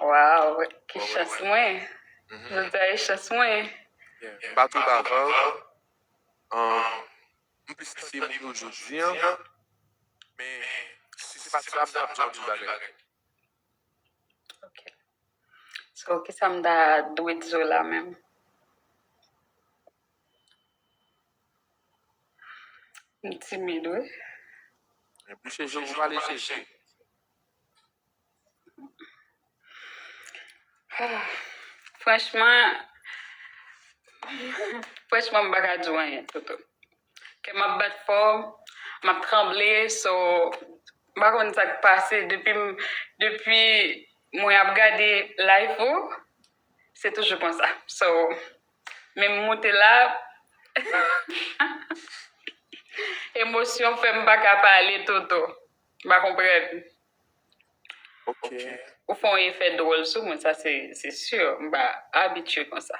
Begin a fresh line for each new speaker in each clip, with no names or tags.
Waww
ki chans mwen jodia e chans mwen. M pa tou
davanl m plis kite moun yo jodi an men si se pati la m tap di w anpil bagay.
Ok so kisa m ta dwe di w la menm. M timid wi.
Bouche je w ou pale je.
Franchman, franchman m pa ka di w anyen Toto. Kè m ap bat fò, m ap tranble so m pa konn sa k pase depi m depi mwen ap gade live ou se toujou konsa. So men m moute la emosyon fè m pa ka pale Toto. M pa konprann.
Ou fè
yon efè dwòl sou mwen sa se sur m pa abitye konsa.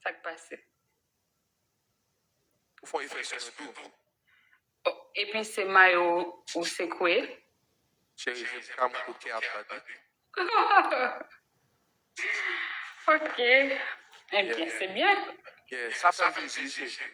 Sak pase.
Ou fè yon efè sur nou tou. Oh
epi se mayo ou sekwe. Cheri
vin pran mwen kou kè ap bat
wi. Ok ebyen se byen. Sa pral vin
dife.